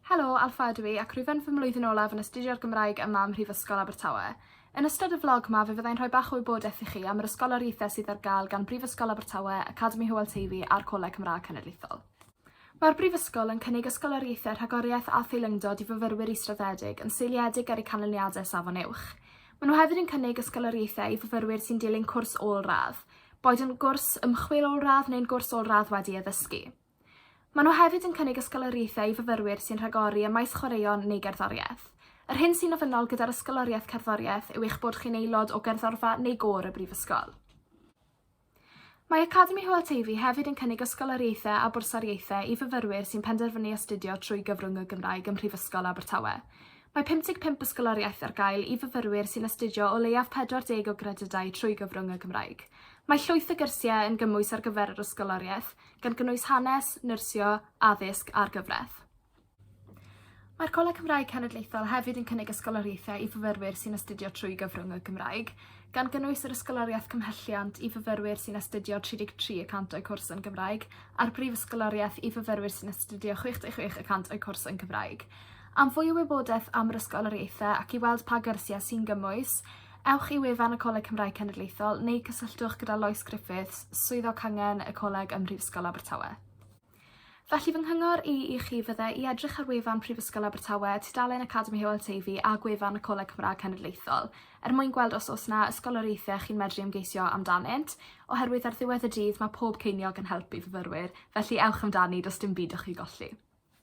Helo, Alffa ydw i ac rwyf yn fy mlwyddyn olaf yn astudio'r Gymraeg yma ym Mhrifysgol Abertawe. Yn ystod y flog 'ma fe fyddai'n rhoi bach o wybodaeth i chi am yr ysgoloriaethau sydd ar gael gan Brifysgol Abertawe, Academi Hywel Teifi a'r Coleg Cymraeg Cenedlaethol. Mae'r Brifysgol yn cynnig ysgoloriaethau rhagoriaeth a theilyngdod i fyfyrwyr israddedig yn seiliedig ar eu canlyniadau Safon Uwch. Maen nhw hefyd yn cynnig ysgoloriaethau i fyfyrwyr sy'n dilyn cwrs ôl-radd, boed yn gwrs ymchwil ôl-radd neu'n gwrs ôl-radd wedi addysgu. Maen nhw hefyd yn cynnig ysgoloriaethau i fyfyrwyr sy'n rhagori ym maes chwaraeon neu gerddoriaeth. Yr hyn sy'n ofynnol gyda'r Ysgoloriaeth Cerddoriaeth yw eich bod chi'n aelod o gerddorfa neu gôr y Brifysgol. Mae Academi Hywel Teifi hefyd yn cynnig ysgoloriaethau a bwrsariaethau i fyfyrwyr sy'n penderfynu astudio trwy gyfrwng y Gymraeg ym Mhrifysgol Abertawe. Mae 55 ysgoloriaeth ar gael i fyfyrwyr sy'n astudio o leiaf 40 o gredydau trwy gyfrwng y Gymraeg. Mae llwyth o gyrsiau yn gymwys ar gyfer yr ysgoloriaeth, gan gynnwys hanes, nyrsio, addysg a'r gyfraith. Mae'r Coleg Cymraeg Cenedlaethol hefyd yn cynnig ysgoloriaethau i fyfyrwyr sy'n astudio trwy gyfrwng y Gymraeg, gan gynnwys yr ysgoloriaeth cymhelliant i fyfyrwyr sy'n astudio 33 y cant o'u cwrs yn Gymraeg a'r brif ysgoloriaeth i fyfyrwyr sy'n astudio 66 y cant o'u cwrs yn Gymraeg. Am fwy o wybodaeth am yr ysgoloriaethau ac i weld pa gyrsiau sy'n gymwys, Ewch i wefan y Coleg Cymraeg Cenedlaethol neu cysylltwch gyda Lois Griffiths, Swyddog Cangen y Coleg ym Mhrifysgol Abertawe. Felly fy nghyngor i i chi fydde i edrych ar wefan Prifysgol Abertawe, tudalen Academi Hywel Teifi a gwefan y Coleg Cymraeg Cenedlaethol er mwyn gweld os oes yna ysgoloriaethau chi'n medru ymgeisio amdanynt, oherwydd ar ddiwedd y dydd mae pob ceiniog yn help i fyfyrwyr, felly ewch amdani, does dim byd o'ch i golli.